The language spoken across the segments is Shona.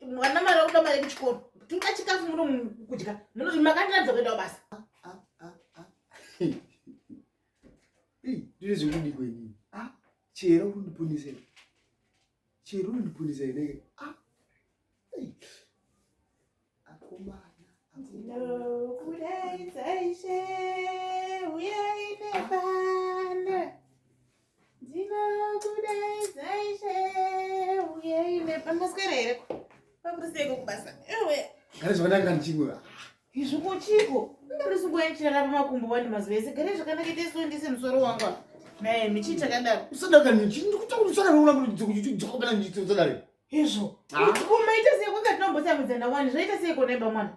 mwana mari akuda mari yekuchikoro tinga chikafu muno kudya makandiratidza kuenda kubasa ndiri zvekudi kwenini chero unondipunisa chero unondipunisa inenge akomana ndinokudaidza ishe uyai nebanda Gare zvakanaka ndichimwe. Izvi kuchiko? Ndiri sungoya chirara pamakumbo wani mazuva ese. Gare zvakanaka ite so ndise musoro wangu. Naye michi chakadaro. Usadaka ndichi ndikutaura kuti saka ndoona kuti dziko kuti dziko kana ndichi tsadare. Izvo. Kuma ita sei kwanga tinombosamudzana wani zvaita sei kona imba mwana.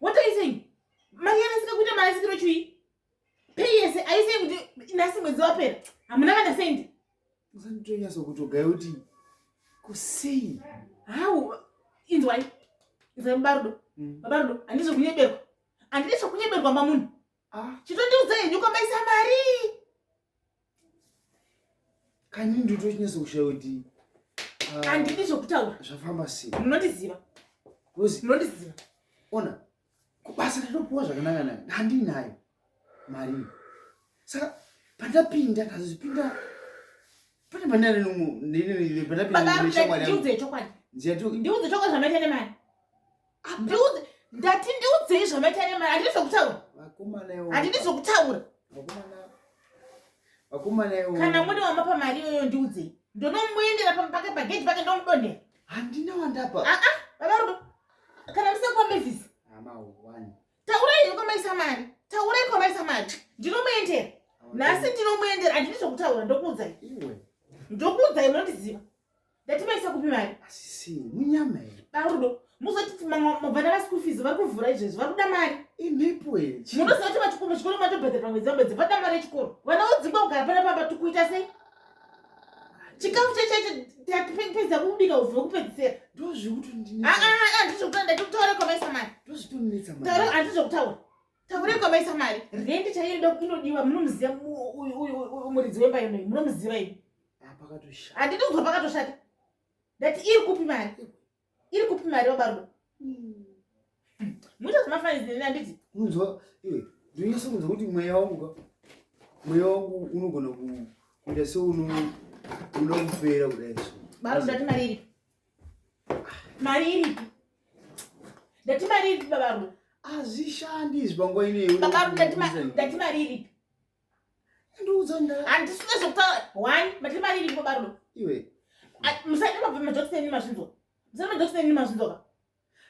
what are you saying mari yanasika kuita marasikiro chui pei yese are you saying kuti nasi mwedzi wapera hamuna kana sendi usanditonyasa kutogaya kuti kusei hau inzwai inzwai babarudo mm. babarudo handizvo kunyeberwa handizvo kunyeberwa mamunhu Ah, chitondiudza henyu kwamaisa mari kani ndotochinesa kushaya kuti ah, handidi zvokutaura zvafamba sei munondiziva rozi munondiziva ona kubasa ndatopuwa zvakanaka nayo handinayo mari saka pandapinda ndazozipinda pane panare nomwe ndinenepandapinda ndiudze chokwadi ndiudze chokwadi zvanoita nemari Handiudze ndati ndiudzei zvamaita nemari handidi zvokutaura. Vakomana iwo. Handidi zvokutaura. Vakomana. Vakomana iwo. Kana mune wamapa mari iyoyo ndiudzei. Ndonomuendera pake pagedhi pake ndomudonhera. Handina wandapa. Ah ah baba rudo. Kana museko Mavis. Hama one. Taurai kwamaisa mari. Taurai kwamaisa mari. Ndinomuendera. Nhasi ndinomuendera handidi zvokutaura ndokuudzai. Iwe. Ndokuudzai munondiziva. ndatimaisa kupi mari asisi munyama here barudo muzotiti mavana vaschool fees vari kuvhura izvezvi vari kuda mari imhepo here munoziva kuti vachikoro chikoro matobhadhara pamwedzi pamwedzi vada mari yechikoro vana vodzingwa kugara pana pamba tikuita sei chikafu chachaicho tatipedza kubika uve kupedzisira ndozvikutoandizvekutoa ndatotaura kwamaisa mari ndozvitoandizvekutaura taure kwamaisa mari rendi chaiyo inodiwa munomuziva muridzi wemba yonoi munomuziva ii pakatoshata handiti kuzwa pakatoshata ndati iri kupi mari iri kupi mari vabarudo hmm. muita zvemafainzi neni handiti unzwa iwe ndinonyaso kunzwa kuti mweya wangu ka mweya wangu unogona kuita seunoda kupera kudai so barudo ndati mari iripi mari iripi ndati mari iripi babarudo hazvishandi izvi panguva ineyi babarudo ndati mari iripi handisina zvekutaura one matiri maviri ndikobarudo iwe musaita mabvemajokisi enyu mazvinzwa musaita majokisi enyu mazvinzwa ka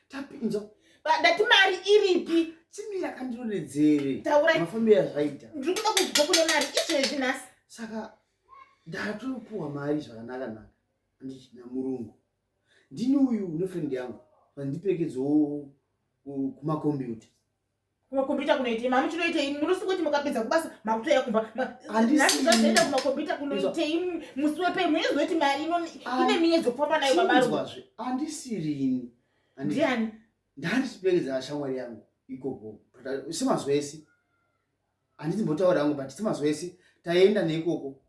tapinzo ndati mari iripi chimira kandionedzere taurai mafambira zvaita ndiri kuda kuzwa kune mari izvezvi nhasi saka ndatopuwa mari zvakanaka naka andichina murungu ndini uyu nefrendi yangu vandiperekedzawo kumakombiyuta kumakombiyuta kunoitei mami chinoitei munosi kuti mukapedza kubasa makutoya kumba handizvazoenda kumakombiyuta kunoitei musi wepei munozoiti mari ine miyedzo kufamba nayo babaazve andisirini ndiani ndandisipekedza shamwari yangu ikoko semazuva ese handiti mbotaura yangu but semazuva ese taenda neikoko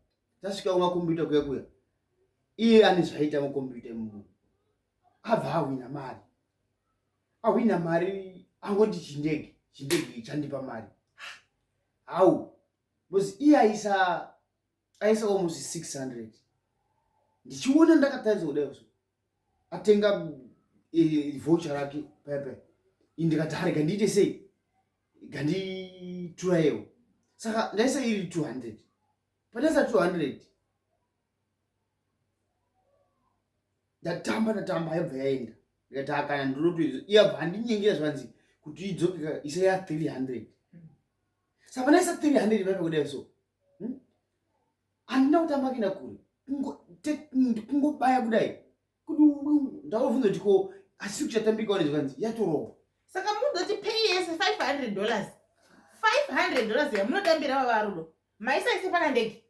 tasvika kumakombiyuta kuya kuya iye ane zvaita makombiyuta imuno abva awina mari ahwina mari angoti chindege chindege chandipa mari how because iye aisa aisa almost 600 ndichiona ndakataridza kudai so atenga eh, voucher rake pepe indikati hari gandiite sei ganditurayewo saka ndaisa iri 200 pandaisa 200 ndatamba ndatamba yaibva yaenda ndikati akana ndinotoizo iyabva handinyengera zvanzi kuti idzoke isa ya 300 sapana isa 300 vaive kudai so hmm? handina kutamba kuenda kure kungobaya kudai kuti ndakuvunza kuti ko asi kuchatambika wane zvanzi yatorowa saka munoti pay yese 500 dollars 500 dollars yamunotambira vavarudo maisaise pana ndege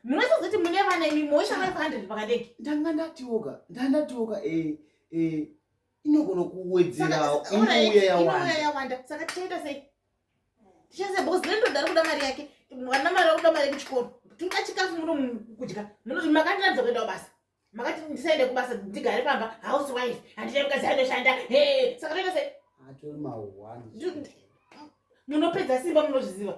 munosazoti mune vana imi moisha 500 pakadeki ndanga ndatioka ndandatioka e eh, e eh, inogona kuwedzerawo iuya yawanda yawanda saka tichaita sei tichaita sei because rendo dari kuda mari yake mwana mari akuda mari yekuchikoro tinoda chikafu muno kudya munoti makandiratidza kuendawo basa makati ndisaende kubasa ndigare pamba house wife handichai mukadzi anoshanda he saka toita sei atori mahwani munopedza simba munozviziva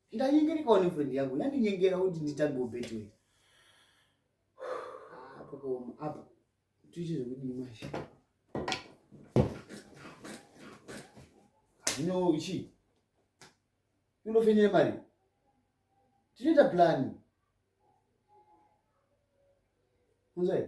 ndanyengerekawo nefriend yangu yandinyengera kuti nditangewo betway ah, pakaoma apa tiite zvekudii mashe zvino uchi unofenyere mari tinoita plani kunzai